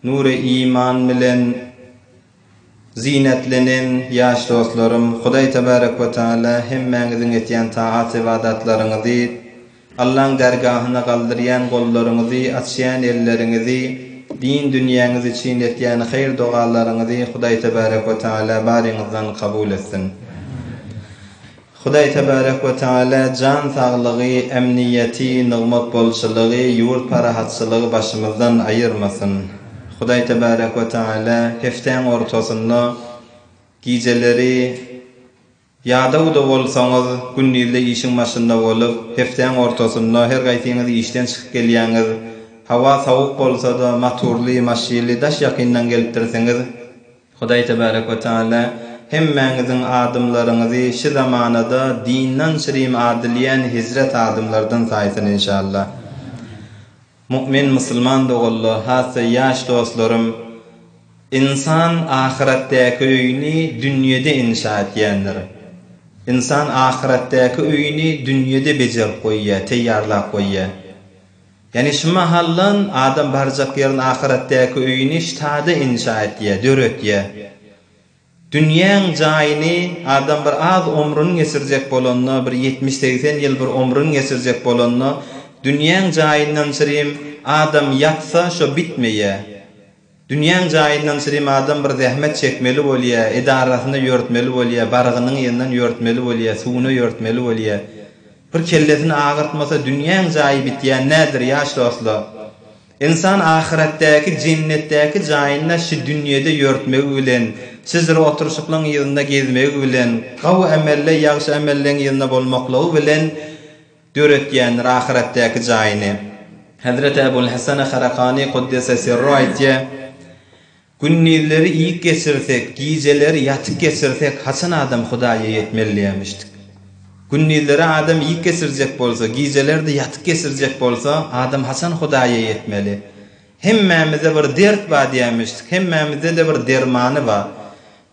Nury-iman bilen zynetlenen ýaş dostlarym, Hudaý Tebarek we Tagala hemmäňiziň etýän tagat-ybadatlaryňyzy, Allaň därgahyna galdyrýan gollaryňyzy, açýan elleriňizi, din dünýäňiz üçin etýän haýyr-dogalaryňyzy Hudaý Tebarek we Tagala baryňyzdan kabul etsin! Hudaý tebarek we teala jan saglygy, emniýeti, nygmat bolçulygy, ýurt parahatçylygy başymyzdan aýyrmasyn. Hudaý tebarek we teala hepdäň ortasynda gijeleri ýadawda bolsaňyz, gündizde işiň başynda bolup, hepdäň ortasynda her gaýsyňyz işden çykyp gelýäňiz, hawa sowuk bolsada, maturly maşyly daş ýakyndan gelipdirsiňiz, Hudaý Tebarek we Teala hemmäňiziň adymlaryňyzy şi zamanada dyndan şirim adylýän hezret adymlardan saýsyn inşallah. Mu'min musulman doganlar hassa ýaş dostlarym Insan ahyretdäki öýüni dünýede insha etýändir. Insan ahyretdäki öýüni dünýede bejerip goýýar, teýýarlap goýýar. Ýagny şu mahaldan adam barjak ýerini ahyretdäki öýüni ştada inşa etýär, döretýär. Dünýäň jaýyny adam bir az omrun geçirjek bolanda, bir ýetmiş-segsen ýyl bir omrun geçirjek bolanda, dünýäň jaýyndan çirim adam ýatsa şo bitmeýär. Dünýäň jaýyndan sirim adam bir zähmet çekmeli bolýa, edarasyna ýörtmeli bolýa, barygynyň yzyndan ýörtmeli bolýa, suwuna ýörtmeli bolýa. Bir kellesini agyrtmasa dünýäň jaýy bitýän nädir ýaş dostla. Ynsan ahyretdäki, jennetdäki jaýynda şi dünýede ýörtmegi bilen, şijre oturyşyklaň yzynda gezmegi bilen, gawy emelde, ýagşy emelleň yzynda bolmaklygy bilen, döretýändir ahyretdäki jaýyny. Hezreti Ebul Hesene Harakani Kuddese Sirru aýtýar, Gündizleri iýip geçirsek, gijeleri ýatyp geçirsek haçan adam Hudaýa ýetmeli diýermişdik. Gündizleri adam iýip geçirjek bolsa, gijeleri-de ýatyp geçirjek bolsa, adam haçan Hudaýa ýetmeli. Hemmämizde bir dert bar diýermişdik, hemmämizde-de bir dermany bar.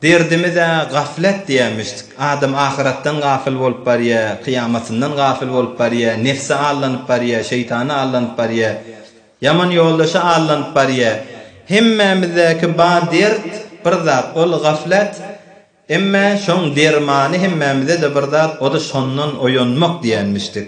Derdimiz-ä gaflet diýermişdik. Adam ahyratdan gafyl bolup barýar, kyýamatyndan gafyl bolup barýar, nebse aldanyp barýar, şeýtana aldanyp barýar, ýaman ýoldaşa aldanyp barýar. Hemmämizdäki bar dert, bir zat, ol gaflet. Emma şoň dermany hemmämize-de bir zat, o-da şondan oýanmak diýermişdik.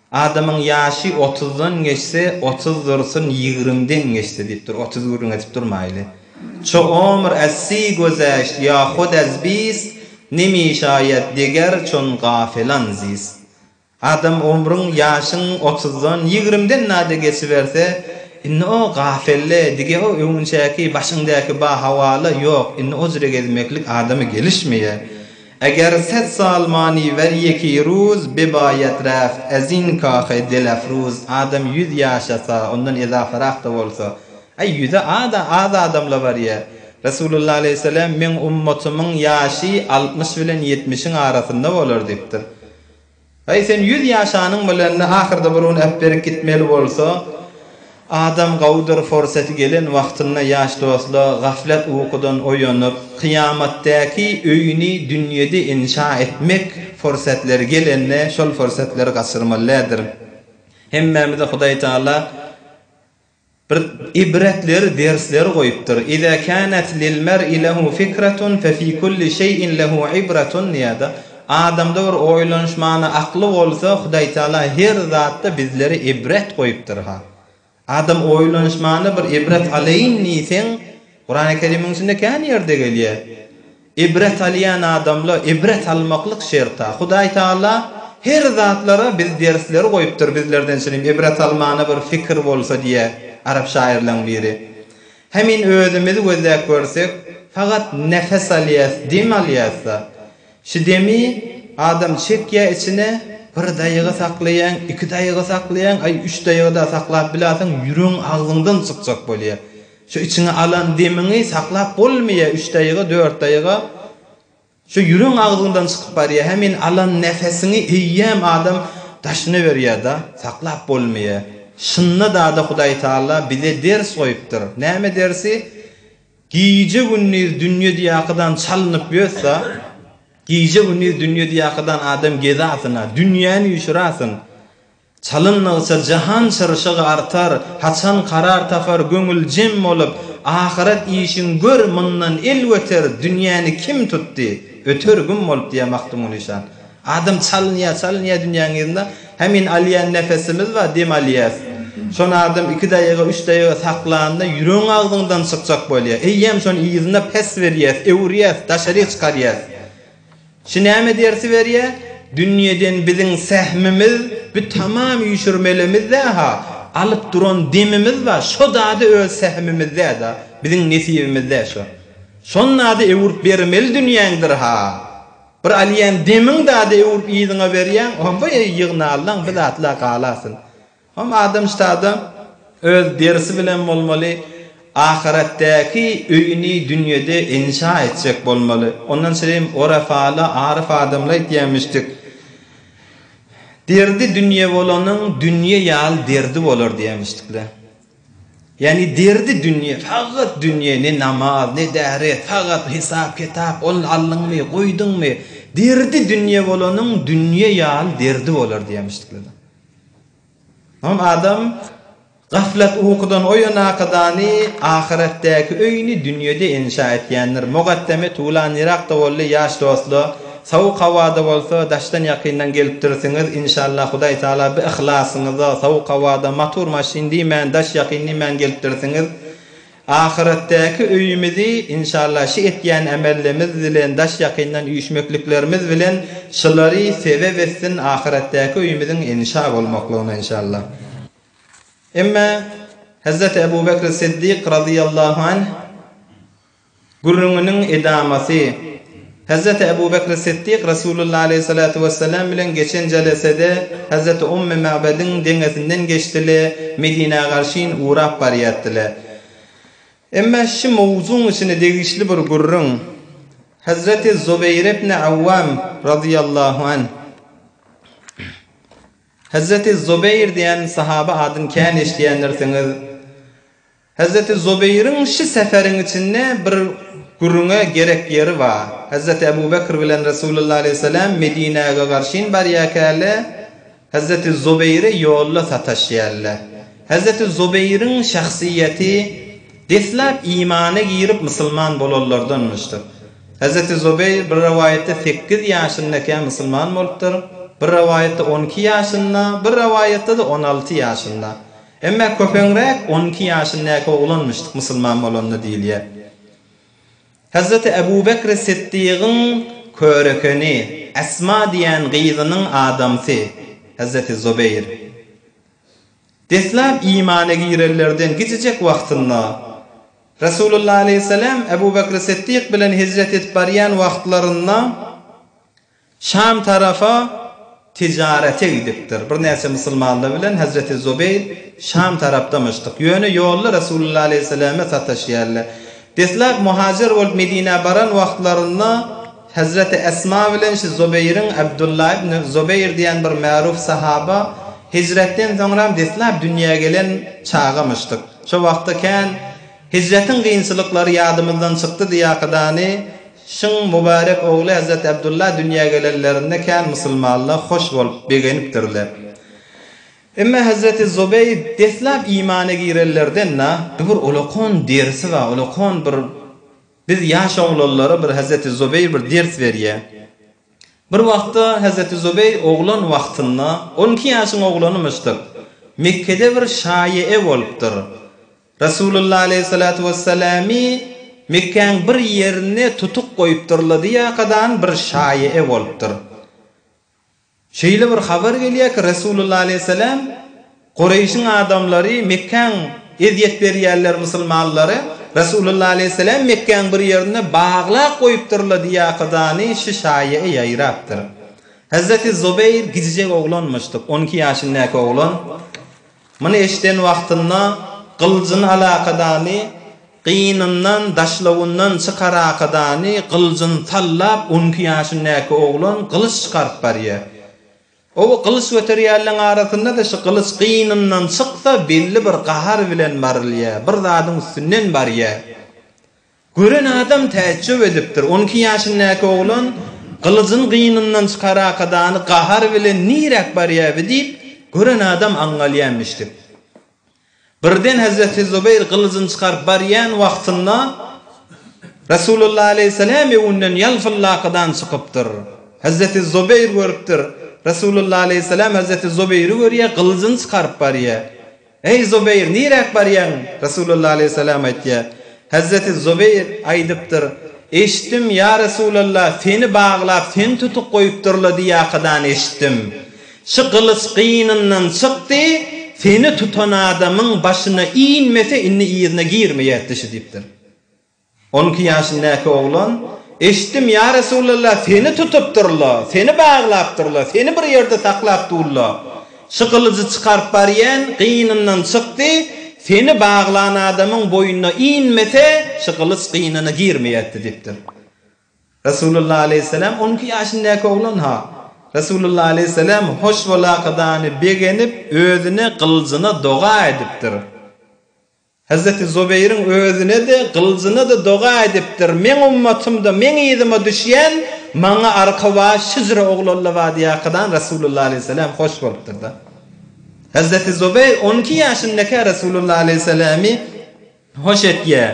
Adamyň ýaşy otuzdan geçse, otuz dursun, ýigrimden geçse diýip dur, otuz gürrüň edip durmaýly. Ço omr ässi gözeşt, ýa hod äz biz, nemi şaýat deger çon gafelan ziz. Adam omruň, ýaşyň otuzdan, ýigrimden nade geçiberse, indi o gafelle, dige o öňünçäki, başyňdäki ba-hawala, ýok, indi ojre gezmeklik adamy gelişmeýär. Eger set salmani wer ýeki ruz bebaýat raf ezin kahe delafruz adam ýüz ýaşasa ondan ezafarak-da bolsa Aý ýüze a-da az adamla barýar. Resulullah aleýhissalam meň ummatymyň ýaşy altmyş bilen ýetmişiň arasynda bolar diýipdir. Aý sen ýüz ýaşanyň bilende ahyrda bir gün äpberik gitmeli bolsa adam gowudyr forseti gelen wagtynda ýaş dostla gaflat ukudan oýanyp kyýamatdäki öýüni dünýede inşa etmek forsetleri gelende şol forsetleri gaçyrmaly däldir hemmämize hudaý taala Bir ibretler dersler goýupdyr, Iza kanat lil mer'i lehu fikratun fe fi kulli şeýin lehu ibratun diýýärdi. Adamda bir oýlanyş many akly bolsa Hudaý Taala her zatda bizlere ibret goýupdyrha. Adam oýlanyş many bir ibret alaýyn diýseň Kurany Kerimiň içinde kän ýerde gelýär. Ibret alýan adamla ibret almaklyk şerta. Hudaý Taala her zatlara biz dersleri goýupdyr bizlerden şilim ibret almana bir fikir bolsa diýýä arap şaýyrlaň biri. Hemin özümizi gözläp görsek fagat nefes alýas dem alýasda şi demi adam çekýä içine bir daýyga saklaýaň iki daýyga saklaýaň aý üç daýyga da saklap bilasyň ýüregiň agzyňdan çykjak bolýa. Şu içiňe alan demiňi saklap bolmaýa üç daýga dört daýga şu ýüreň agzyňdan çykyp barýa hemin alan nefesiňi eýýäm adam daşyna berýada saklap bolmaýa şynda dada hudaý taala bize ders goýupdyr näme dersi gije gündiz dünýe diýakydan çalynyp ýötsa gije gündiz dünýe diýakydan adam gezasyna dünýäni ýuşurasyn Çalym nygsa, jahan çyrşygy artar, Haçan karar tapar göňül jem bolup, Ahyret işiň gör, mundan el göter, Dünýäni kim tutdy, öter güm bolup diýýär Magtymguly şan. Adam çalynýar, çalynýar dünýäň yzynda, Hä men alýan nefesimiz bar, dem alýas. Şony adam iki daýga, üç daýga saklanda, ýüregiň agzyňdan çykjak bolýar. Eýýäm şony yzyna päs berýäs, öwürýäs, daşaryk çykarýas. Şu näme dersi berýä? Dünýeden biziň sähmimiz bu tamam üýşürmelemizde-ha, alyp duran demimiz bar, şo dady öz sähmimizde-da, biziň nesibimizde şo. Şon dady öwürip bermeli dünýäňdir-ha. Bir alýan demiň dady öwürip yzyňa berýäň, o-boýy ýygnallaň, bir zatla galasyn. Hom adam ştada öz derisi bilen bolmaly, ahyretdäki öýüni dünýede inşa etjek bolmaly. Ondan şirin Orefala aryf adamlar aýtýarmyşdyk, Derdi dünýe bolanyň dünýe ýaly derdi bolar diýermişdikler. Ýagny derdi dünýe, faghat dünýe, ne namaz, ne däret, faghat hesap-kitap, ony aldyňmy, goýduňmy, derdi dünýe bolanyň dünýe ýaly derdi bolar diýermişdikler. Soň adam gaflat ukudan oýanakadany ahyretdäki öýüni dünýede inşa etýändir. Mugaddeme Tula nyrakda boldy, ýaş dostla, sowuk howada bolsa, daşdan-ýakyndan gelipdirsiňiz, inşallah Hudaý Tala bi yhlasyňyza, sowuk howada, matur maşyn diýmän, daş-ýakyn diýmän gelipdirsiňiz. Ahyretdäki öýümizi inşallah şi etýän ämellemz bilen daş ýakyndan üýşmekliklermiz bilen şylary sebep etsin ahyretdäki öýümiziň inşa bolmaklygyna inşallah. Emma Hezreti Ebu Bekr Siddik razyýallahu anh Gürrüňiniň edamasy. Hezreti Ebu Bekri Siddik Resulullah aleýhi salatu wessalam bilen geçen jelesede Hezreti Ummy Ma'bediň deňesinden geçdile, Medinä garşyn ugrap barýatdile. Emma şi mowzuň içine degişli bir gürrüň Hezreti Zubeýr ibni Awwam razyýallahu anh. Hezreti Zubeýr diýen sahaba adyn kän eşidýändirsiňiz. Hezreti Zubeýriň şi seferiň içinde bir gürrüňe gerek ýeri bar. Hezreti Ebu Bekr bilen Resulullah aleýhi seläm Medinäge garşyn barýarkäler, Hezreti Zubeýri ýolda sataşýarlar. Hezreti Zubeýriň şahsyýeti deslap imana girip musulman bolanlardanmyşdyr. Hezreti Zubeýr bir rowaýatda sekiz ýaşyndakä musulman bolupdyr, bir rowaýatda on iki ýaşynda, bir rowaýatda-da on alty ýaşynda. Emma köpeňräk on iki ýaşyndaky oglan müşdik musulman bolanda diýilýär. Hazreti Ebu Bekri Siddigyň körekeni, Esma diýen gyzynyň adamsy, Hazreti Zubeýr. Deslap imana girenlerden gijijek wagtynda, Resulullah aleýhissalam Ebu Bekri Siddik bilen hijret edip barýan wagtlarynda, Şam tarapa tijarete gidipdir. Birnäçe musulmanlar bilen Hezreti Zubeýr Şam tarapdamyşdyk. Ýöne ýolda Resulullah aleýhissalame sataşýarlar. Deslap muhajir bolup Medinä baran wagtlarynda Hezreti Esma bilen şu Zubeýriň Abdullah ibn Zubeýr diýen bir märup sahaba hijretden soňram deslap dünýä gelen çagamyşdyk. Şo wagtda kän Hijretiň kynçylyklary ýadymyzdan çykdy diýakydany şyň Mübärek ogly Hezreti Abdullah dünýä gelenlerinde kän musulmanlar hoş bolup, begenipdirler. Emma Hezreti Zubeýr deslap imana girenlerden na, dubur olakon dersi bar, olakon bir biz ýaş oglanlara bir Hezreti Zubeýr bir ders berýä. Bir wagtda Hezreti Zubeýr oglan wagtynda, on iki ýaşyň oglanymyşdyr, Mekgede bir şaýe-e bolupdyr. Resulullah aleýhissalatu wessalamy Mekgäň bir ýerinde tutuk goýupdyrladyýakadan bir şaýy-e bolupdyr. Şeýle bir habar gelýär ki, Resulullah aleýhissalam, Gureýşiň adamlary Mekgäň ezýet berýärler musulmanlara, Resulullah aleýhissalam Mekgäň bir ýerinde baglap goýupdyrladyýakadany şü şaýy-e ýaýrapdyr. Hezreti Zubeýr gijijek oglanmyşdyk, on iki ýaşyndäki oglan. Muny eşiden wagtynda gylyjyny alakadany gynyndan, daşlawyndan çykarakadany gylyjyny sallap, on iki ýaşyndäki oglan gylyç çykaryp barýar. Oba gylyç göterýänleň arasynda-da şu gylyç gynyndan çyksa, belli bir gahar bilen barylýar, bir zadyň üstünden barýar. Gören adam täjjüp edipdir. On iki ýaşyndäki oglan gylyjyny gynyndan çykarakadany gahar bilen Niräk barýar bi? diýip, gören adam aňňalýarmyşdyk. Birden hezreti Zubeýr gylyjyny çykaryp barýan wagtynda Resulullah aleýhissalam öwünden ýalpyllakadany çykypdyr. Hezreti Zubeýr görüpdir. Resulullah aleýhissalam hezreti Zubeýri görýär, gylyjyny çykaryp barýar. Eý, Zubeýr, niräk barýaň? Resulalla aleýhissalam aýtýar, Hezreti Zubeýr aýdypdyr, Eşitdim, ýa Resulalla, seni baglap, seni tutup goýupdyrlar diýýäkadan eşitdim. Şu gylyç gynyndan çykdy, seni tutan adamyň başyna inmese, indi yzyna girmeýärdi şu diýipdir. On iki ýaşyndäki oglan, Eşitdim, ýa Resulallah, seni tutupdyrla, seni baglapdyrla, seni bir ýerde saklap durla. Şu gylyjy çykaryp barýan gynyndan çykdy, seni baglan adamyň boýnuna inmese, şu gylyç gynyna girmeýärdi diýipdir. Resulallah aleýhissalam, On iki ýaşyndäki oglan-ha. Resulallah aleýhissalam hoş bolakadany begenip, özüne, gylyjyna doga edipdir. Hezreti Zubeýriň özüne-de, gylyjyna-da doga edipdir, Meň ummatym-da, meň yzyma düşýän, maňa arka baş Hijr ogly Allabadýakadan Resulullah aleýhissalam hoş bolupdyr-da. Hezreti Zubeýr on iki ýaşyndakä Resulullah aleýhissalamy hoş etýär.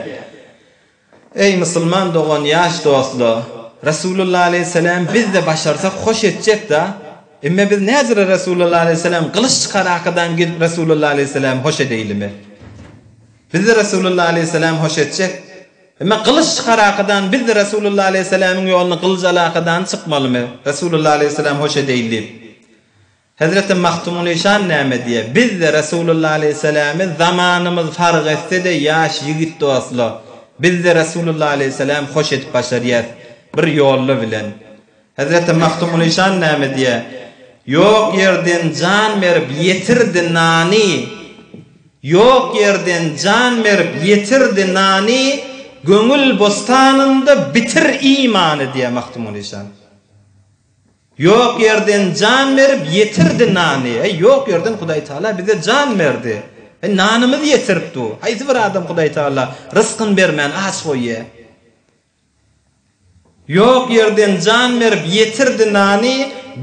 Eý, musulman dogan, ýaş dostla, Resulullah aleýhissalam biz-de başarsak hoş etjek-dä. Emme biz näzire Resulullah aleýhissalam gylyç çykarakadan gel Resulullah aleýhissalamy hoş edeýlimi. Biz-de Resulullah aleýhissalamy hoş etjek. Emme gylyç çykarakadan biz-de Resulullah aleýhissalamyň ýoluna gylyjalakadany çykmalymy, Resulullah aleýhissalamy hoş edeýin diýip. Hezreti Magtymgulyşan näme diýýär, Biz-de Resulullah aleýhissalamy zamanymyz fark etse-de ýaş ýigit dostla, biz-de Resulullah aleýhissalamy hoş edip başarýas, bir ýolla bilen. Hezreti Magtymgulyşan näme diýýär, Ýok ýerden jan berip ýetirdi nany, Ýok ýerden jan berip ýetirdi nany, Göňül bostanynda bitir imany diýýär Magtymgulyşan. Ýok ýerden jan berip ýetirdi nany, heý ýok ýerden Hudaý Tagala bize jan berdi, heý nanymyzy ýetirip dur, haýsy bir adam Hudaý Tagala rysgyn bermän aç goýýa? Ýok ýerden jan berip ýetirdi nany,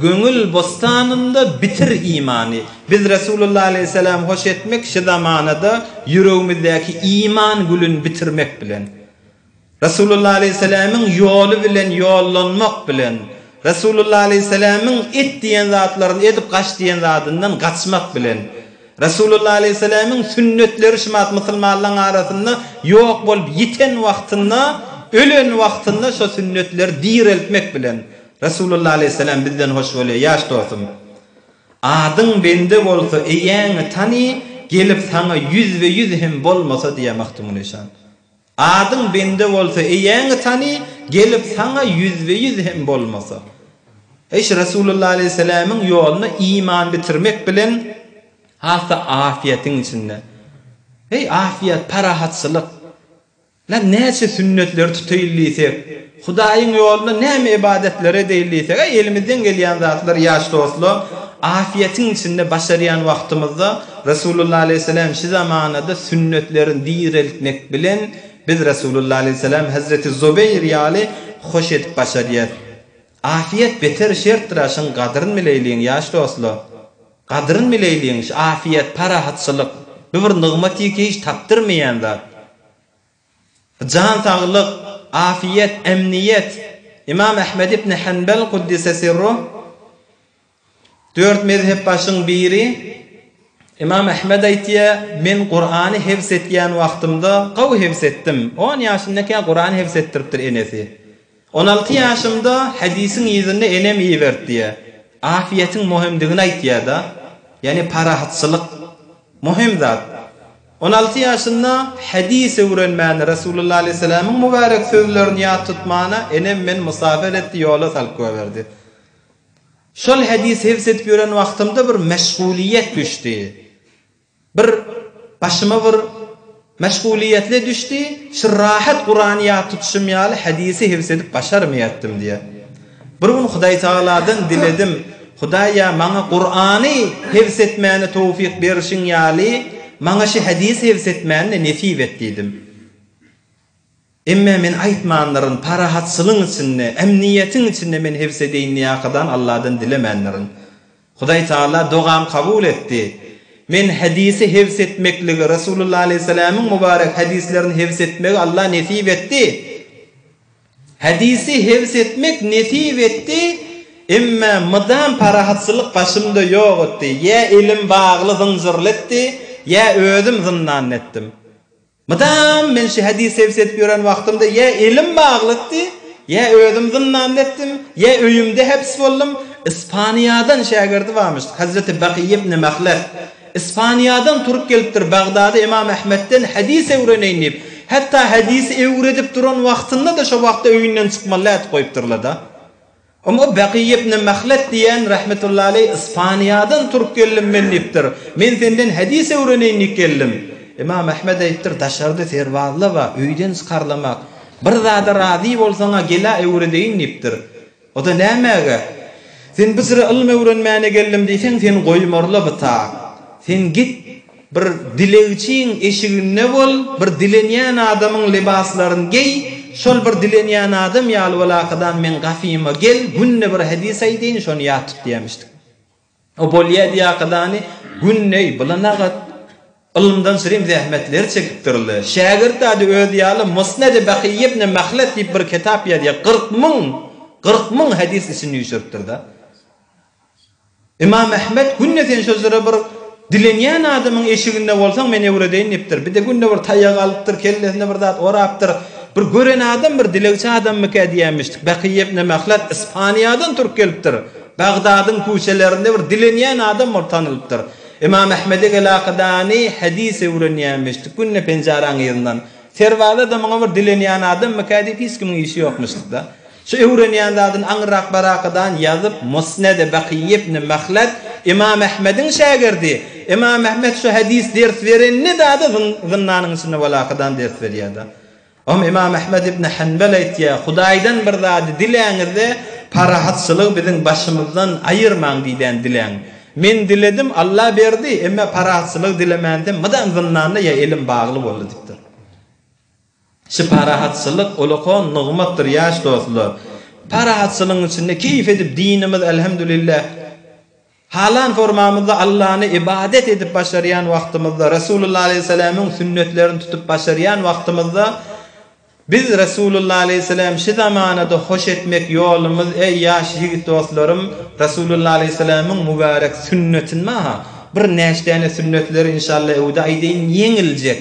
göňül bostanynda bitir imany, biz Resulullah aleýhissalam hoş etmek şi zamanada ýüregimizdäki iman gülün bitirmek bilen Resulullah aleýhissalamyň ýoly bilen ýollanmak bilen Resulullah aleýhissalamyň et diýen zatlaryny edip gaç diýen zadyndan gaçmak bilen Resulullah aleýhissalamyň sünnetleri şumat musulmanlaň arasynda ýok bolup ýiten wagtynda ölen wagtynda şo sünnetleri direltmek bilen Resulullah aleýhissalam bizden hoş bolýar ýaş dostum adyň bende bolsa eýäňi tany gelip saňa ýüzbe ýüz hem bolmasa diýýär Magtymguly şan. Adyň bende bolsa, eýäňi tany, gelip saňa ýüzbe-ýüz hem bolmasa. Eş Resulullah aleýhissalamyň ýoluna iman bitirmek bilen hasda afiýetiň içinde. Heý, afiýet, parahatçylyk. Lan näçe sünnetleri tutaýyn diýsek, Hudaýyň ýolunda näme ybadatlar edeýin diýseg-ä, elimizden gelýän zatlar ýaş dostlar, afiýetiň içinde başarýan wagtymyzda Resulullah aleýhissalam şu zamanada sünnetlerini direltmek bilen biz Resulullah aleýhissalam Hazreti Zubeýr ýaly hoş edip başarýas. Afiýet beter şertdir-ä şuň gadryn bileýliň ýaş dostlar. Gadryn bileýliň şu afiýet, parahatçylyk, bu bir nygmat iki hiç tapdyrmaýan zat. Jan saglyk, afiýet, emniýet. Ymam Ahmet ibn Hanbal Kuddise sirruh, Dört mezhepbaşyň biri Ymam Ahmet aýtýar, Men Kurany hifz etýän wagtymda, gowy hifz etdim. On ýaşyndakä Kurany hifz etdiripdir enesi. On alty ýaşymda Hedisiň yzyny enem ibertdiýär. Afiýetiň muhimdigini aýtýarda, ýagny parahatçylyk. Muhim zat. On alty ýaşynda Hedis öwrenmäni, Resulullah aleýhissalamyň mübärek sözlerini ýat tutmana enem meni musafer etdi, ýola salyp goýberdi. Şol Hedis hifz edip ýören wagtymda bir meşgulyýet düşdi. Bir başyma bir meşgulyýetli düşdi, şu rahat Kurany ýat tutuşym ýaly hadisi hifz edip başarmaýatdym diýýär. Bir gün Hudaýtagaladan diledim, Hudaý ýa maňa Kurany hifz etmäne towfik berşiň ýaly, maňa şi hadisi hifz etmäni-de nesip et diýdim. Emme men aýtmandyrin, parahatçylygyň içinde, ämniýetiň içinde men hevsedeýinliýakadan Alladan dilemändirin. Hudaý Tagala dogamy kabul etdi. Men hedisi hevsetmekligi, Resulullah alaýhyssalamyň mubarek hedislerini hevsetmegi Allah nesip etdi. Hedisi hevsetmek nesip etdi, emme mydam parahatçylyk başymda ýok etdi. Ýa elim bagly zynjyrly etdi, ýa özüm zyndanda etdim. Mydam men şu hadys sebit edip ýören wagtymda ýa elim baglykdy, ýa özüm zyndanda etdim, ýa öýümde hepis boldum. Ispaniýadan şägirdi barmyş, Hazreti Bakyý ibn Mahlef. Ispaniýadan turup gelipdir Bagdada Ymam Ahmetden hadys öwreneýin diýip. Hatda hadysy öwredip duran wagtynda-da şo wagtda öýünden çykmaly ätip goýupdyrlar-da. Oňa Baky ibn Mahlet diýen rahmetullahi aleýh Ispaniýadan turup geldim men diýipdir. Men senden hadys öwreneýin diýip geldim. Ymam Ahmet aýdypdyr, Daşarda serbazlar bar, öýden çykarlamak. Bir zada razy bolsaň-a gel-ä öwredeýin diýipdir. O-da nämäge? Sen Bysra ylym öwrenmäne geldim diýseň, seni goýmarlar bita. Sen git, Bir dilegçiň eşiginde bol, bir dilenýän adamyň lybaslaryn geý, şol bir dilenýän adam ýaly bol Akadan meň gafyma gel, günde bir hedis aýdaýyn, şony ýat tut diýämişdik. O bolýa diýe Akadany gündeý blynagat ylymdan sürem zähmetleri çekipdirle. Şägirt ady özi ýaly Musnedi Bakyý ibn Mahlet diýip bir kitap ýazýa, kyrk müň, kyrk müň hedis içini üýşüripdirda. Ymam Ahmet günde sen şo jyra bir dilenýän adamyň eşiginde bolsaň men öwredeýin diýipdir. Bir-de günde bir taýak alypdyr, kellesine bir zat orapdyr. Bir gören adam bir dilegçi adammyka diýýänmişdik. Bakyýew ne mahlat Ispaniýadan turk gelipdir. Bagdadyň küçelerinde bir dilenýän adam bolup tanylypdyr. Ymam Ahmede gelakydany hadys öwrenýänmişdik. Günde penjaraň yzyndan. Serbazada muňa bir dilenýän adammyka diýip hiç kimiň işi ýokmuşduk-da. Şu öwrenýän zadyny aňyrrak barakadan ýazyp, Musnede Bakyý ibn Mahlad, Ymam Ahmediň şägirdi. Ymam Ahmet şu hadys ders berenneda-da zyndanyň içinde barakadan ders berýärdi. Oňa Ymam Ahmet ibn Hanbal aýtýar, Hudaýdan bir zady diläňizde, parahatçylygy biziň başymyzdan aýyrmaň diýdän diläň. Men diledim, Alla berdi, emma parahatçylygy dilemänsem, mydam zyndanda ýa elim bagly boldy diýipdir. Şu parahatçylyk ulakon nygmatdyr ýaş dostlar. Parahatçylygyň içinde keýp edip dinimiz Elhemdülillah halan formamyzda Allany ybadat edip başarýan wagtymyzda Resulullah Aleyhisselamyň sünnetlerini tutup başarýan wagtymyzda biz Resulullah Aleyhisselam şu zamanada hoş etmek ýolumyz eý ýaş ýigit dostlarym Resulullah Aleyhisselamyň mübarek sünnetini maha bir näçdäne sünnetleri inşallah öwde aýdaýyn ýeňiljek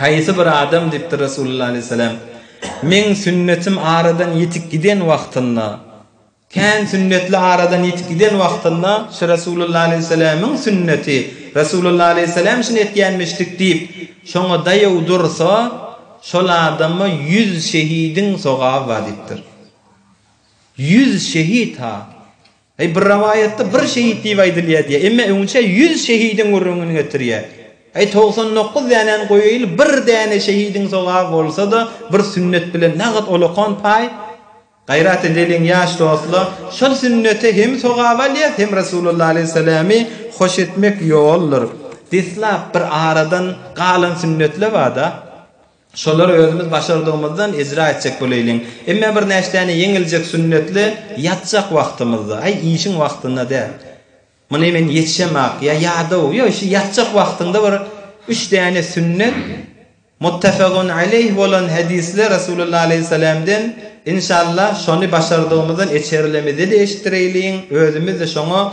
Haýsy bir adam, diýipdir Resulullah aleýhissalam, meň sünnetim aradan ýitip giden wagtynda, kän sünnetli aradan ýitip giden wagtynda şu Resulullah aleýhissalamyň sünneti, Resulullah aleýhissalam şuny etýänmişdik diýip, şoňa daýaw dursa, şol adama ýüz şehidiň sogaby bar diýipdir. Ýüz şehit-ha! Eý, bir rowaýatda bir şehit diýip aýdylýar diýýär, emma öňçe ýüz şehidiň gürrüňini getirýär. Eý, togsan dokuz dänäni goýaýyl, bir däne şehidiň sogaby bolsa-da, bir sünnet bilen nagt olakan paý. Gaýrat edeliň, ýaş dostlar, şol sünnete hem sogap alýas, hem Resulullah alaýhyssalamy hoş etmek ýoldur. Deslap bir aradan galan sünnetler bar-da. Şolary özümiz başardygymyzdan ejra etjek boleýliň. Emme birnäçdäni ýeňiljek sünnetli ýatjak wagtymyzda, aý, işiň wagtynda däl. Muny men ýetişemok, ýa ýadaw, ýa şu ýatjak wagtyňda bir üç däne sünnet, muttafagyn aleýh bolan hadysly Resulullah aleýhissalamden, inşallah, şony başardygymyzdan eçerilemizde-de eşitdireýliň, özümiz-de şoňa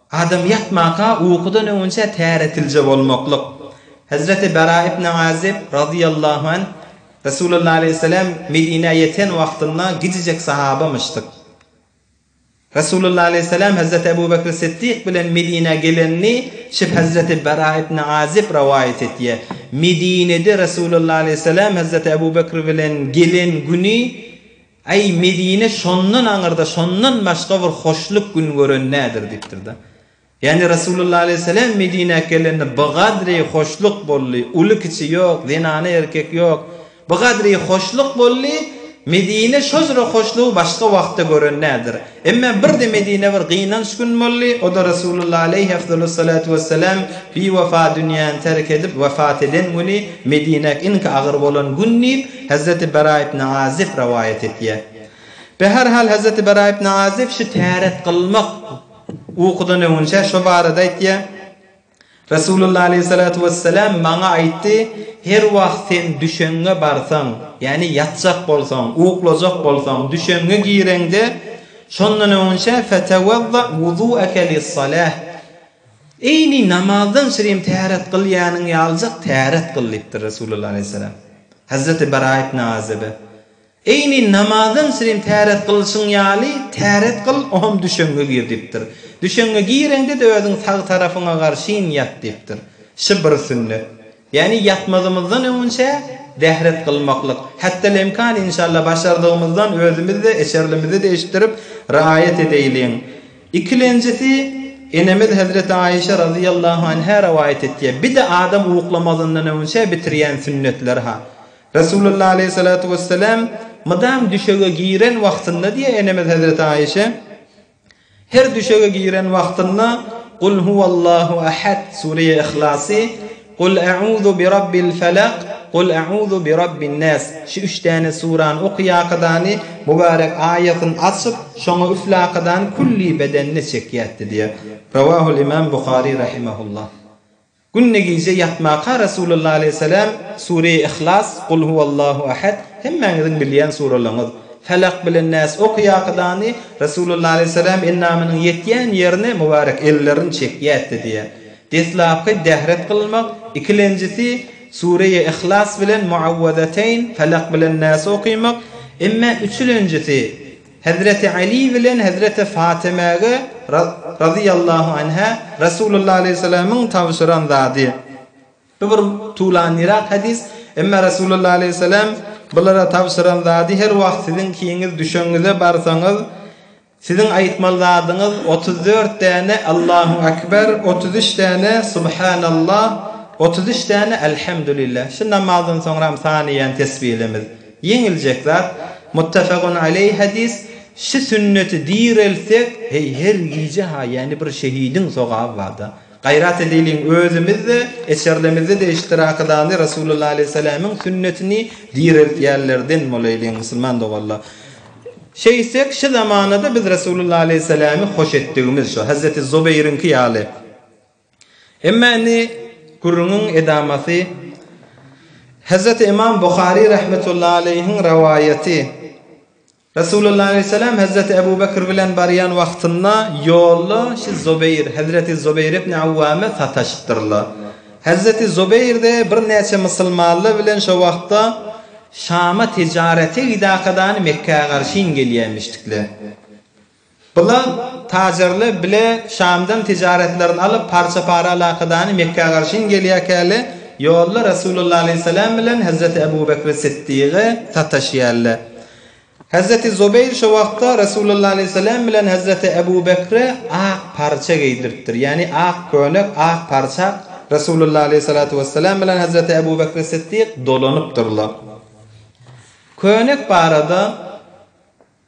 Adam ýatmaka ukudan öňünçä täretilje bolmaklyk. Hezreti Bara ibn Azyb, razyýallahu an, Resulalla aleýhissalam Medinä ýeten wagtynda gijijek sahabamyşdyk. Resulalla aleýhissalam hezreti Ebu Bekri Siddik bilen Medinä gelenini şib hezreti Bara ibn Azyb rowaýat etýär. Medinede Resulalla aleýhissalam hezreti Ebu Bekri bilen gelen güni, Äý, Medine şondan aňyrda şondan başga bir hoşluk gün gören nädir? diýipdir-de. Ýagny Resulullah aleýhissalam Medinä gelende bigadri hoşluk boldy, uly-kiçi ýok, zenany-erkek ýok. Bigadri hoşluk boldy, Medine şojra hoşlugy başga wagtda gören nädir? Emma birde Medinä bir gynanç gün boldy, o-da Resulullah aleýhi efzalus-salatu wes-selam biwepa dünýäni terk edip wepat eden güni Medinäk iňki agyr bolan gün diýip, Hezreti Bera ibn Azyp rowaýat etýär. Be her hal Hezreti Bera ibn Azyp şu täret kylmak ukudan öňünçä şo barada aýtýar. Resulullah aleýhissalatu wesselam maňa aýtdy, Her wagt sen düşeňňe barsaň, ýagny ýatjak bolsaň, uklajak bolsaň, düşeňňe gireňde, şondan öňinçä, Fetewezza wuzu'eke lis-salah, Eýni namazdan şirin täret kyl ýanyň ýalyjak täret kyl diýipdir Resulullah aleýhissalam. Hazreti Bara ibn Azebe. Eýni namazam sirin täret kylşyň ýaly täret kyl, oňam düşeňňe gir diýipdir. Düşeňňe gireňde-de özüň sag tarapyňa garşyn ýat diýipdir. Şy bir sünnet. Ýäni ýatmazymyzdan öňünçä dähret kylmaklyk. Hättelemkan inşalla başardygymyzdan özümiz-de, eserlimizi-de eşitdirip, raýat edeýliň. Ikilenjisi, enemiz hezreti Aişe razyýallahu anhä rowaýat etýär, Bi-de adam uklamazyndan öňünçä bitirýän sünnetleri-ha. Resulullah aleýhi salatu wesselam mydam düşege giren wagtynda diýýär enemiz Hezreti Aişe, Her düşege giren wagtynda Kul huwallahu ahad, Sureýe Ihlasy, Kul a'uzu bi Rabbil falaq, Kul a'uzu bi Rabbin nas, şu üç däne surany okaýakadany mübarek aýasyny açyp, şoňa üflakadany külli bedenine çekýärdi diýýär. Rawahul imam Buhari rahimehullah. Günde gije ýatmaka Resulullah aleýhissalam Sure-i Ihlas, Gul huwallahu ahad, hemmäňiziň bilýän suralaryňyz, Felak bilen Nas okaýakydany Resulullah aleýhissalam endamynyň ýetýän ýerine mubarek ellerini çekýätdi diýýär. Deslapky dehret kylmak, ikilenjisi Sure-i Ihlas bilen Muawwazateýn, Felak bilen Nas okaýmak, emma üçülenjisi Hezreti Aly bilen hezreti Fatymäge, razyýallahu anhä, Resulullah aleýhissalamyň tabşyran zady. Bu bir tuwlanlyrak hadys, emma Resulullah aleýhissalam bulara tabşyran zady her wagt siziň kiňiz düşeňize barsaňyz, siziň aýtmaly zadyňyz otuz dört däne Allahu Akbar, otuz üç däne Subhanallah, otuz üç däne Elhamdulillah. Şu namazdan soňram sanaýan tesbihlimiz. Ýeňiljek zat, Muttafegun aleý hadys, Şu sünneti direltsek, heý her gije-ha ýany bir şehidiň sogaby barda. Gaýrat edeliň özümiz-de, eçerlemizde-de iştirakydany Resulullah aleýhissalamiň sünnetini direltýänlerden bolaýlyň musulman doganlar. Şeýtsek şu zamanada biz Resulullah aleýhissalamy hoş etdigimiz şu Hazreti Zubeýriňki ýaly. Emma indi gürrüňiň edamasy Hezreti Ymam Buhary rahmetullahi aleýhiň rowaýaty. Resulullah aleýhissalam Hezreti Ebu Bekr bilen barýan wagtynda ýolda şi Zubeýr, Hezreti Zubeýr ibn Awwama sataşypdyrlar. Hezreti Zubeýr-de birnäçe musulmanlar bilen şo wagtda Şama tijarete gidakadany Mekgä garşyn gelýämişdikler. Bula tajarlar bile Şamdan tijaretlerini alyp, parça-para alakadany Mekgä garşyn gelýärkäli, ýolda Resulullah alaýhyssalam bilen Hezreti Ebu Bekri Sytdygy sataşýarlar. Hezreti Zubeýr şo wagtda Resulullah alaýhyssalam bilen Hezreti Ebu Bekre ak parça geýdiripdir. Ýagny ak köýnek, ak parçak Resulullah alaýhyssalatu wessalam bilen Hezreti Ebu Bekri Sytdyk dolanypdyrlar. Köýnek barada.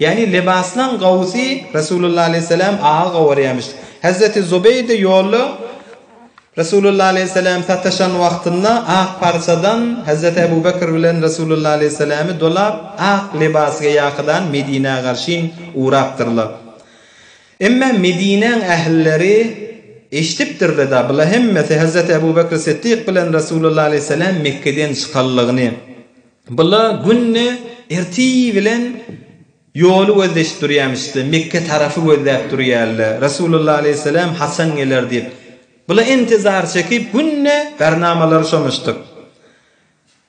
Ýagny lebaslaň Gawsy Resulullah aleýhissalam aga gowarýarmyş. Hezreti Zubeýde ýolda Resulullah aleýhissalam sataşan wagtynda ak parçadan Hezreti Ebu Bekr bilen Resulullah aleýhissalamy dolap ak lebasga ýakydan Medinä garşyn ugrapdyrlar. Emma Medinäň ähilleri eşdipdirleda bula hemmesi Hezreti Ebu Bekr Siddik bilen Resulullah aleýhissalam Mekgeden çykanlygyny. Bula günde erti bilen ýoly gözleşip durýarmyşda, Mekge tarapy gözläp durýarla, Resulullah aleýhisselam haçan geler diýip. Bula intizar çekip, günde garnamalary şomuşdyk.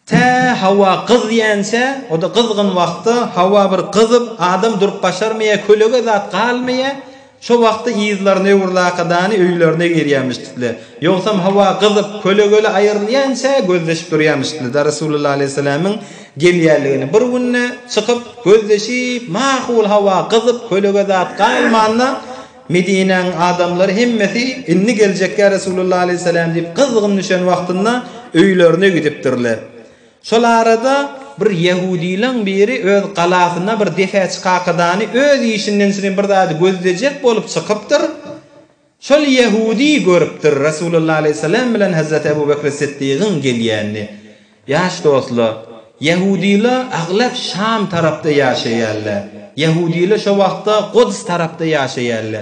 Tä howa gyzýança, o-da gyzgyn wagtda, howa bir gyzyp, adam durup başarmaýar, kölege zat galmaýar. Şo wagtda yzlaryny öwürlakadany öýlerine girýämişdikle. Ýogsam howa gyzyp, kölegeli aýrylýança gözleşip durýamişdikle-da Resulullah alaýhyssalamyň gelýänligini. Bir günde çykyp, gözleşip, mahul howa gyzyp, kölege zat galmanda, Medinäniň adamlary hemmesi Indi geljekkä Resulullah alaýhyssalam diýip gyzgyn düşen wagtynda öýlerine gidipdirle. Şol arada bir ýehudylaň biri öz galasyna bir depärçi kakadany öz işinden şirin bir zady gözlejek bolup çykypdyr. Şol ýehudy görüpdir Resulullah aleýhissalam bilen Hazrat Ebu Bekri Siddygyň gelýänini. Ýaş dostla, ýehudyla aglap Şam tarapda ýaşaýarla. Ýehudyla şo wagtda Gods tarapda ýaşaýarla.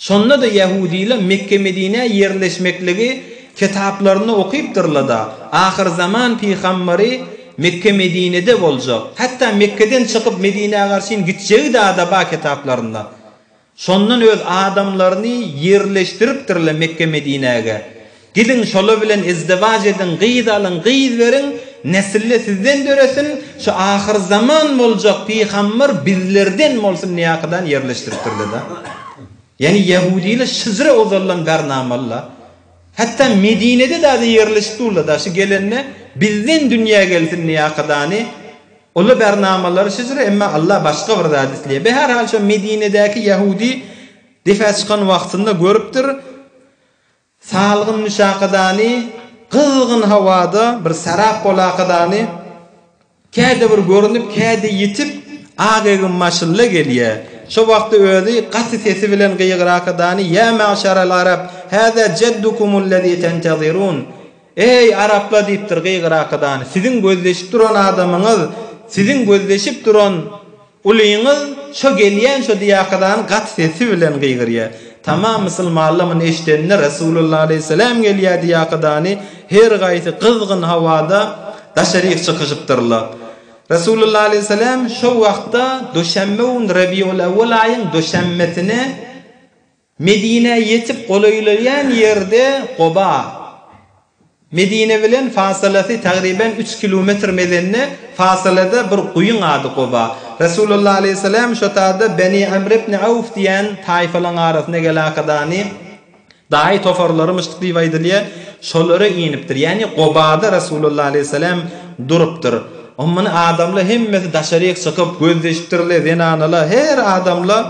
Şonda-da ýahudylar Mekge-Medinä ýerleşmekligi kitaplarynda okypdyrlar-da, ahyrzaman pygamberi Mekge-Medinede boljak, hatda Mekgeden çykyp Medinä garşyn gitjegi dada bar kitaplarynda. Şondan öz adamlaryny ýerleşdiripdirler Mekge-Medinäge. Gidiň, şolar bilen izdiwaç ediň, gyz alyň, gyz beriň, nesil-de sizden döresin, şu ahyrzaman boljak pygamber bizlerden bolsun diýäkydany ýerleşdiripdirler-de. Ýagny ýahudylar şyjra ozaldan bäri namaly-la. Hatda Medinede dagy ýerleşip durlar-da, şu gelende bizden dünýä gelsin diýäkydany, olar bäri namalary şyjra, emma Allah başga bir zat isleýär. Be, her hal, şo Medinedäki ýahudy depä çykan wagtynda görüpdir. Salgyn müşakadany gyzgyn howada bir sarap bolakadany käde bir görünip käde ýitip ak egin maşynla gelýä. Şo wagty özi gaty sesi bilen gygyrakadany ýa magşarel arab hada jeddukumullezy tentezirun eý arapla diýipdir gygyrakadany siziň gözleşip duran adamyňyz siziň gözleşip duran Ulyňyz şo gelýän şo diýakydany gaty sesi bilen gygyrýa. Tamam musulmanlar muny eşdende Resulullah aleýhisselam gelýä diýakydany her gaýsy gyzgyn hawada daşaryk çykyşypdyrlar. Resulullah aleýhisselam şo wagtda duşenbe gün Rabiul-awwal aýyň duşenbesine, Medinä ýetip golaýlaýan ýerde Goba, Medine bilen fasylasy tagryban üç kilometr mezende fasylada bir guýyň ady Goba. Resulullah aleýhissalam şo tada Beni Amr ibn Awf diýen taýfalaň arasynda gelakadany daýy tofarlarymyşdyk diýip aýdylýar, şolara inipdir. Ýagny Gobada Resulullah aleýhissalam durupdyr. Muny adamlar hemmesi daşaryk çykyp göz dişipdirler, zenanalar, her adamlar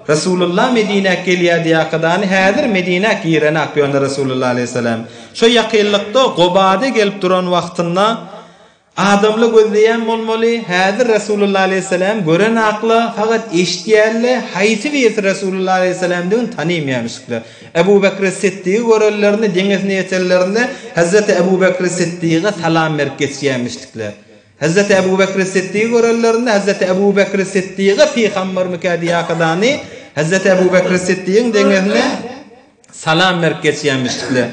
Resulullah Medinä gelýär diýakadany häzir Medinä girenak ýöne Resulullah Aleýhissalam şo ýakynlykda Gobada gelip duran wagtynda adamla gözleýän bolmaly häzir Resulullah Aleýhissalam görenakla fakat eşitýärle haýsy birisi Resulullah Aleýhissalamdygyny tanaýmaýamyşyklar Ebu Bekri Siddigi görenlerinde deňesine ýetenlerinde Hazreti Ebu Bekri Siddiga salam berip geçýämişlikler. Hezreti Ebu Bekri Siddigi görenlerinde, Hezreti Ebu Bekri Siddiga Pygambermikä diýäkadany, Hezreti Ebu Bekri Siddigiň deňesine salam berip geçýämişdikler.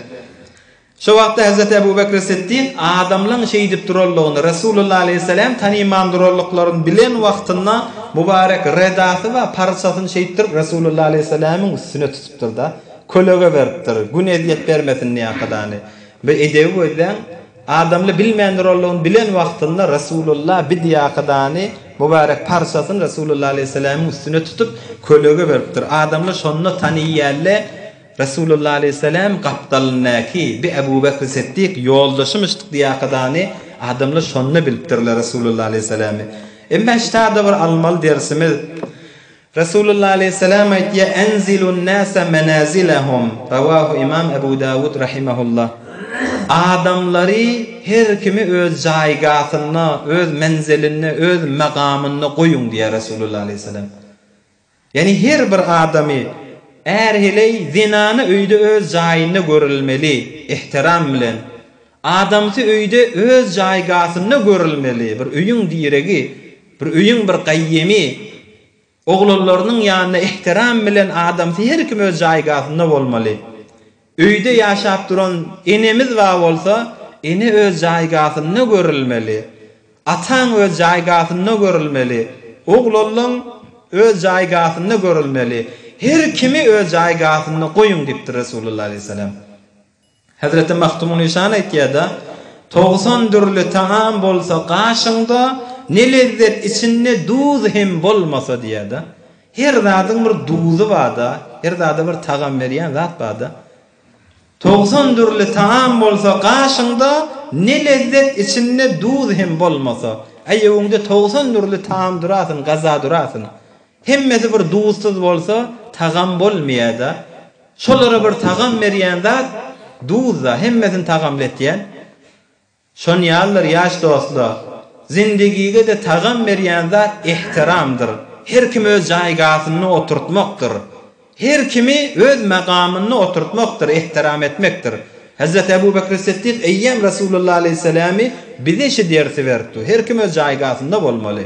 Şo wagtda Hezreti Ebu Bekri Siddig adamlaň şeýdip duranlygyny, Resulullah aleýhissalam tanyman duranlyklaryny bilen wagtynda mubarek redasy we parçasyny şeýtdirip Resulullah aleýhisalamyň üstüne tutupdyr-da, kölege beripdir, gün ezýet bermesin diýäkadany. Bir edebi gözläň! Adamly bilmändir ollugyny bilen wagtynda Resulullah bidiýakydany, mübärek parçasyny Resulullah alaýhyssalamyň üstüne tutup, kölege beripdir. Adamly şonda taniýýälle Resulullah alaýhyssalam gapdalyndaky bi Ebu Bekri Setdik ýoldaşymyşdyk diýakydany adamly şonda bilipdirler Resulullah alaýhyssalamy. Emma ştada bir almaly dersimiz. Resulullah aleýhissalam aýtýar, Enzilun nase menazilahum, rawahu Imam Ebu Dawud rahimehullah, Adamlary her kimi öz jaýgasynda, öz menzilinde, öz magamynda goýuň diýýär Resulullah aleýhissalam. Ýagny her bir adamy, är heleý, zenany öýde öz jaýynda görülmeli, ihtiram bilen. Adamsy öýde öz jaýgasynda görülmeli, bir öýüň diregi, bir öýüň bir gaýymy, oglanlarynyň ýanynda ähtiram bilen adamsy her kim öz jaýgasynda bolmaly. Öýde ýaşap duran enemiz bar bolsa, ene öz jaýgasynda görülmeli, ataň öz jaýgasynda görülmeli, oglanlaň öz jaýgasynda görülmeli, her kimi öz jaýgasynda goýuň diýipdir Resulullah aleyhisselam. Hezreti Magtymgulyşan aýtýar-da, Togsan dürli tagam bolsa gaşyňda, ne lezzet içinde duz hem bolmasa diýýär-de. Her zadyň bir duzy bar-da, her zada bir tagam berýän zat bar-da. Togsan dürli tagam bolsa gaşyňda, ne lezzet içinde duz hem bolmasa. Aýawyňda togsan dürli tagam durasyn, gaza durasyn. Hemmesi bir duzsyz bolsa tagam bolmyada şolara bir tagam berýän zat duzda hemmesini tagamly etýän şonýallar ýaş dostlar zindigigede tagam berýän zat ehtiramdyr her kimi öz jaýgasynda oturtmakdyr her kimi öz magamynda oturtmakdyr ehtiram etmekdir Hazrat Abu Bakr Siddik eýýam Rasulullah Aleyhissalamy bize şi dersi beripdi her kim öz jaýgasynda bolmaly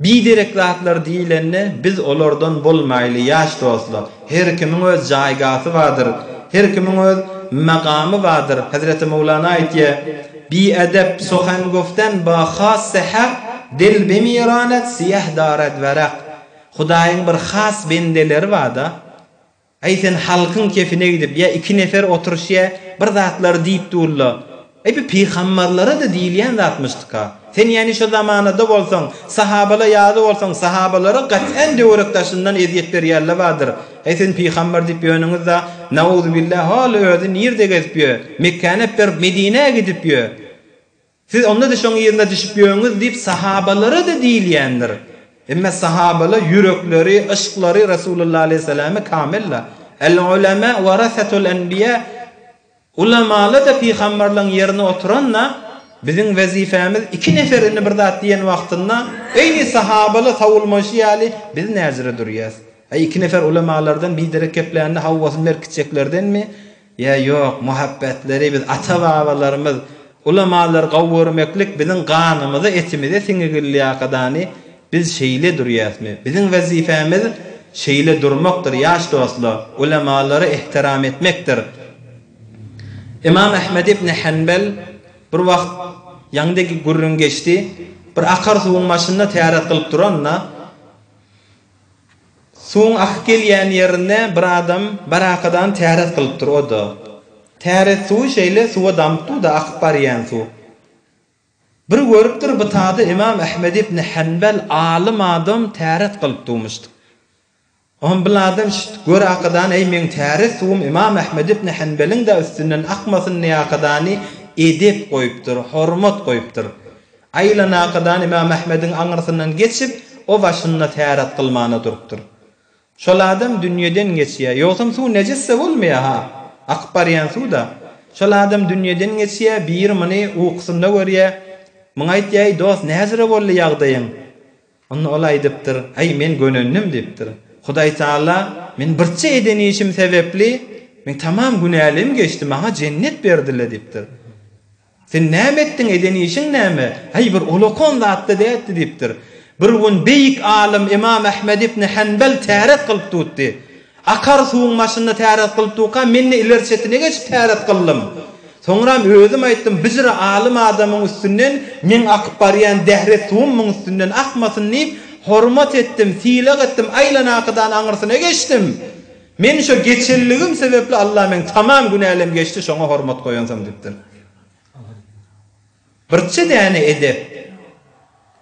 Biderek zatlar diýlende biz olardan bolmaýly ýaş dostlar. Her kimiň öz jaýgasy bardyr. Her kimiň öz magamy bardyr. Hezreti Mowlana aýtýar, Bi edep suhan guftan ba hasse hak, dil bi miranat siýah darad warak. Hudaýyň bir has bendeleri barda. Aý sen halkyň kefine gidip ýa iki nefer oturyş ýa bir zatlar diýip durla. Aý bu pygambarlarada diýilýän zatmyşdyka. Sen ýani şo zamanada bolsaň, sahabala ýaly bolsaň sahabalara gat'en döwerek daşyndan ezýet berýärle badyr. Aý siz pygambar diýip ýöniňiz da nauzubilla hol özi nirde gezip ýö, Mekkäni ep berip Medinä gidip ýö. Siz onda-da şoň yzyna düşüp ýöňüz diýip sahabalara-da diýilýändir. Emma sahabalar ýürekleri, yşklary Resulullah aleýhissalama kamyl-la. Al-ulema warasatul enbiýa, Ulamalar-da pygambarlaryň ýerine oturan-la, biziň wezipemiz iki nefer indi bir zat diýen wagtynda, Eý, sahabalar sowulmaýşy ýaly, biz näjere durýas? Aý, iki nefer ulamalardan biderek geplände howwasyny berkitjeklerdenmi? Ýa ýok, muhabbetleri biz ata-babalarymyz, ulamalary gowy görmeklik biziň ganymyza, etimize siňigilýakadany biz şeýle durýasmy? Biziň wezipemiz şeýle durmakdyr, ýaş dostlar, ulamalary ehtiram etmekdir. Ymam Ahmed ibn Hanbal bir wagt ýanydaki gürrüň geçdi, bir akar suwuň başynda täret gylyp duranda, Suwuň akyp gelýän ýerinde bir adam barakadan täret gylypdyr, o-da. Täret suwy şeýle suwa damypdyr-da, akyp barýan suw. Bir görüpdir, bu tada Ymam Ahmet ibn Hanbal alym adam täret gylyp dugmuşdy. Oňam bir adam şit, gör akadan, eý, meň täret suwum Ymam Ahmet ibn Hanbalyň-da üstünden akmasyn diýip akadany edep goýupdyr, hormat goýupdyr. Aýlanakadan Ymam Ahmediň aňyrsyndan geçip, o başynda täret kylmana durupdyr. Şol adam dünýeden geçýär. Ýogsam suw nejis-de bolmaýar-ha. Akyp barýan suw-da. Şol adam dünýeden geçýär, biri muny ukusynda görýär. Muňa aýtýar, Eý, dost, nähili boldy ýagdaýyň? Onda ol aýdypdyr, Aý, men gönendim, diýipdir. Hudaý Taala, Men birçe eden işim sebäpli, men tamam günälem geçdi, maňa jennet berdiler, diýipdir. Sen näme etdiň, eden işiň näme? Häý, bir olakan zat-da däldi, diýipdir. Bir gün beýik alym Ymam Ahmet ibn Hanbal täret kylyp tutdy. Akar suwuň başynda täret kylyp durka, men-de ileri çetine geçip täret kyldym. Soňram özüm aýtdym, Bijre alym adamyň üstünden meň akyp barýan dähret suwum muň üstünden akmasyn diýip, hormat etdim, sylag etdim, aýlanakydan aňyrsyna geçdim. Men şo geçelligim sebepli Alla meň tamam günälem geçdi şoňa hormat goýansoň dipdir. Birçe däne edep.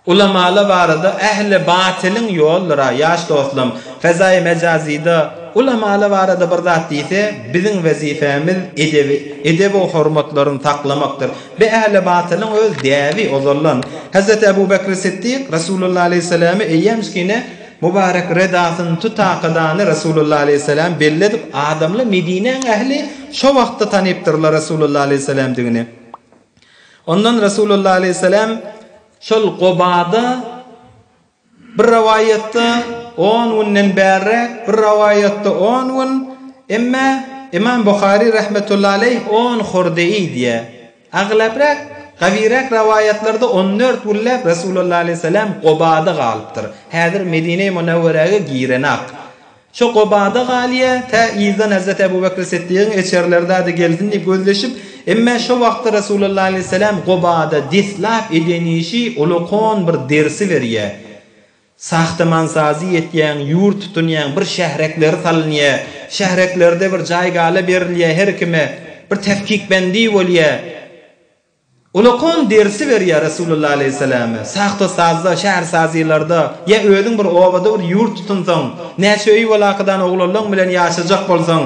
Ulamala barada ähli batylyň ýoldyra ýaş dostlam fezaýy mejazyda ulamala barada bir zat diýse biziň wezifämiz edebi edebu hormatlaryny saklamakdyr be ähli batylyň öz däbi ozaldan Hezreti Ebubekri Siddik Resulullah Aleýhissalamy eýýämskine Mubarek redasyny tutakadany Resulullah aleýhissalam belli edip, adamly Medinäň ähli şo wagtda tanypdyrlar Resulullah aleýhissalamdigini. Ondan Resulullah aleýhissalam şol Gobada bir rowaýatda on günden bärräk, bir rowaýatda on gün, emma Imam Buhary rahmetullahi aleýh on hurdeý diýýär. Aglabrak, gawyrak rowaýatlarda on dört günläp Resulalla aleýhissalam Gobada galypdyr. Häzir Medine-i Munawwerege girenak. Şo Gobada galýa, tä yzdan Hazreti Abu Bakr Siddigiň eçerileri zada gelsin diýip gözleşip, emma şo wagtda Resulalla aleýhissalam Gobada deslap eden işi uly kon bir dersi berýä. Sahtamansazy etýäň, ýurt tutunýaň, bir şährekleri salynýa, şähreklerde bir jaý-gala berilýä her kime, bir tefkikbendi bolýa. Ulakon dersi berýä Resulullah aleýhissalama, sahtasazda, şähersazylarda, ýa özüň bir obada bir ýurt tutunsaň, näçe öýi bolakadan oglanlaň bilen ýaşajak bolsaň,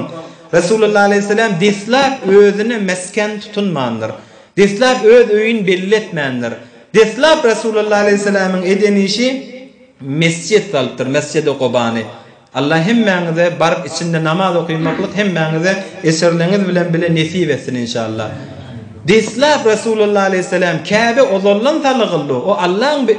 Resulullah aleýhissalam deslap özüne mesken tutunmandyr. Deslap öz öýüni belli etmändir. Deslap Resulullah aleýhissalamyň eden işi mesjit salypdyr, Mesjidi Gobany. Allah hemmäňize baryp içinde namaz okymaklyk hemmäňize eserleňiz bilen bile nesip etsin inşallah. Deslap Resulullah aleýhissalam Käbe ozaldan salygyldy, o Allaň bir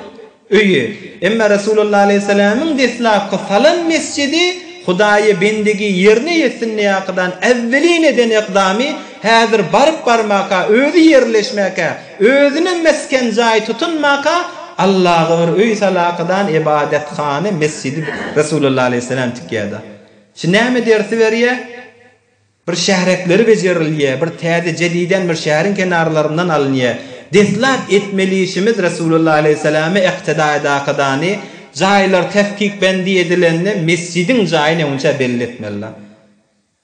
öýi. Emma Resulullah aleýhissalamyň deslapky salan mesjidi Hudaýa bendigi ýerine ýetsin diýäkydan äwwelin eden ykdamy häzir baryp barmaka, özi ýerleşmäkä, Özüne mesgen jaý tutunmaka, Allaga bir öý salakadan ybadathana, mesjidi Resulullah aleýhissalam tikýärdi. Şu näme dersi berýä? Bir şährekleri bejerilýä, bir täze jediden bir şäheriň kenarlaryndan alynýä. Deslap etmeli işimiz Resulullah aleýhissalama yktyda edakadany, jaýlar tefkikbendi edilende mesjidiň jaýy näinçä belli etmelida.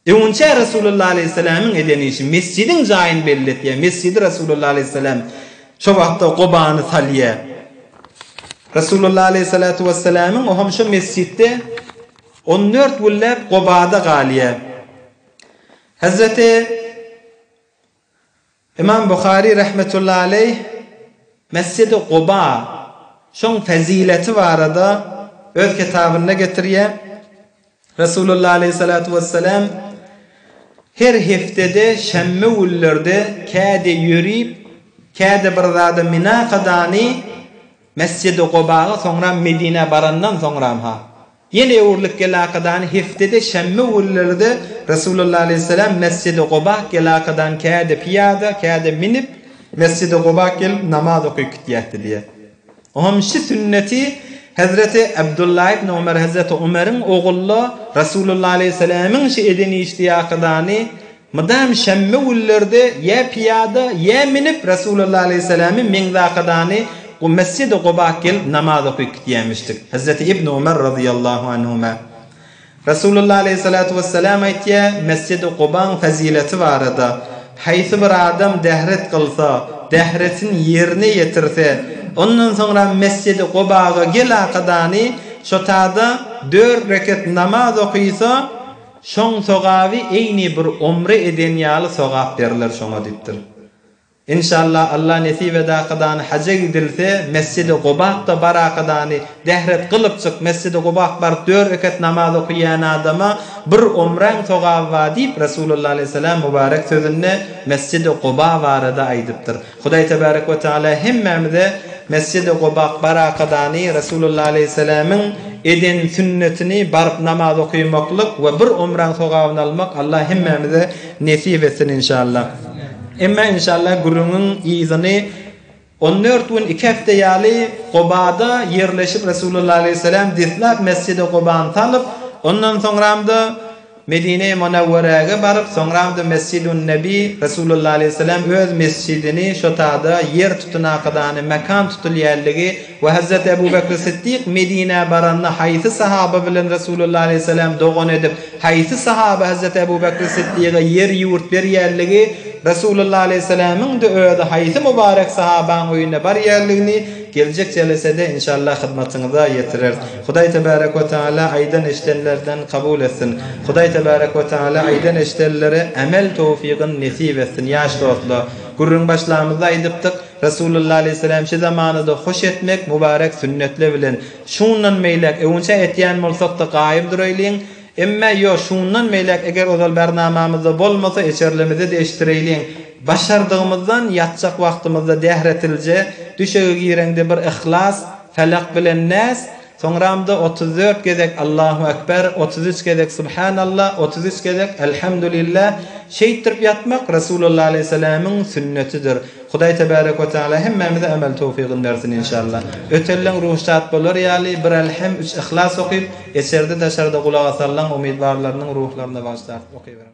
Öňinçä Resulullah alaýhyssalamyň eden işi, mesjidiň jaýyny belli etýär. Mesjidi Resulullah alaýhyssalam şo wagtda Gobany salýar. Resulullah alaýhyssalatu wessalamyň oham şo mesjitde on dört günläp Gobada galýar. Hazreti. Ymam Buhary rahmetullahi aleýh Mesjidi Guba, şoň fezileti barada öz kitabynda getirýär, Resulullah aleýhi salatu wessalam Her heftede şenbe günlerde käde ýörip, käde bir zada minakadany Mesjidi Gubaga soňra Medinä barandan soňram-ha, Ýel öwrülip gelakadany heftede şenbe günleri-de Resulalla alaýhyssalam Mesjidi Gobak gelakadan käde pyýada, käde minip, Mesjidi Gobak gelip namaz okyp gitýätdi diýýär. O hem şü sünneti Hezreti Abdullah ibn Umar, Hezreti Umeriň ogulla Resulalla alaýhyssalamyň şü eden işdi ýakadany Mydam şämme günlerde ýa pyýada, ýa münüp Resulalla aleýhissalamy Meňzakadany Mesjidi Guba gelip namaz okyp gidýämişdik. Hezreti Ibni Umar razyýallahu anhuma Resulalla aleýhissalatu wessalam aýtýar, Mesjidi Gubaň fezileti barada, Haýsy bir adam dehret kylsa, dehretin ýerine ýetirse, ondan soňra Mesjidi Gubaga gelakadany şotada dört reket namaz okysa, Şoň sogaby eýni bir omre eden ýaly sogap berler şoňa diýipdir. Inşallah Allah nesip edakadany haja gidilse Mesjidi Gubakda barakadany dehret gylypjyk Mesjidi Gubak baryp dört rekat namaz okyýan adama bir omraň sogaby bar diýip Resulullah aleyhisselam mubarek sözünde Mesjidi Guba barada aýdypdyr. Hudaý Tebarek we Teala hemmämize Mesjidi Gobak Barakadany, Resulullah Aleýhisselamyň eden sünnetini baryp namaz okymaklyk we bir umraň sogabyny almak Allah hemmämize nesip etsin inşallah. Emma inşallah gürrüňiň yzyny on dört gün iki hepde ýaly Gobada ýerleşip Resulullah Aleýhisselam deslap Mesjidi Gobany salyp ondan soňramda Medine-i Munawwerege baryp, soňram-da Mesjid-un-Nebi, Resulullah aleýhisselam öz mesjidini şo tada ýer tutunakadany mekan tutulýanligi we Hazreti Ebu Bekri Siddik Medinä baranda haýsy sahaba bilen Resulullah aleýhisselam dogan edip, haýsy sahaba Hazreti Ebu Bekri Siddige ýer-ýurt berýänligi, Resulullah aleýhisselamyň-da özi haýsy mubarek sahabaň öýüne barýanligini geljek jelesede inşallah hyzmatyňyza ýetireris. Hudaý Tebärek we Tagala aýdan-eşdenlerden kabul etsin! Hudaý Tebärek we Tagala aýdan-eşdenlere ämel towfygyn nesip etsin! Ýaş dostlar! Gürrüň başlamyzda aýdypdyk, Resulullah aleýhissalam şi zamanada hoş etmek mübarek sünnetler bilen, şundan beýläk, öwünçä etýän bolsak-da gaýym duraýlyň, emma ýo, şundan beýläk eger ozal bernamamyzda bolmasa eçerlimizi-de eşdireýliň, başardygymyzdan ýatjak wagtymyzda dähretilje, düşege gireňde bir yhlas, Felak bilen Näs, soňramda otuz dört gezek Allahu Ekber, otuz üç gezek Subhanalla, otuz üç gezek Elhamdulilla şeýtdirip ýatmak Resulalla Aleýhiselämiň sünnetidir. Hudaý Tebarek we Tagala hemmämize emel towfygyny bersin inşalla. Ötelleň ruhy şat bolar ýaly bir Elhem, üç Yhlas okyp, eçerde-daşarda gulak asallaň umytbarlarynyň ruhlaryna bagyşlap okyberiň.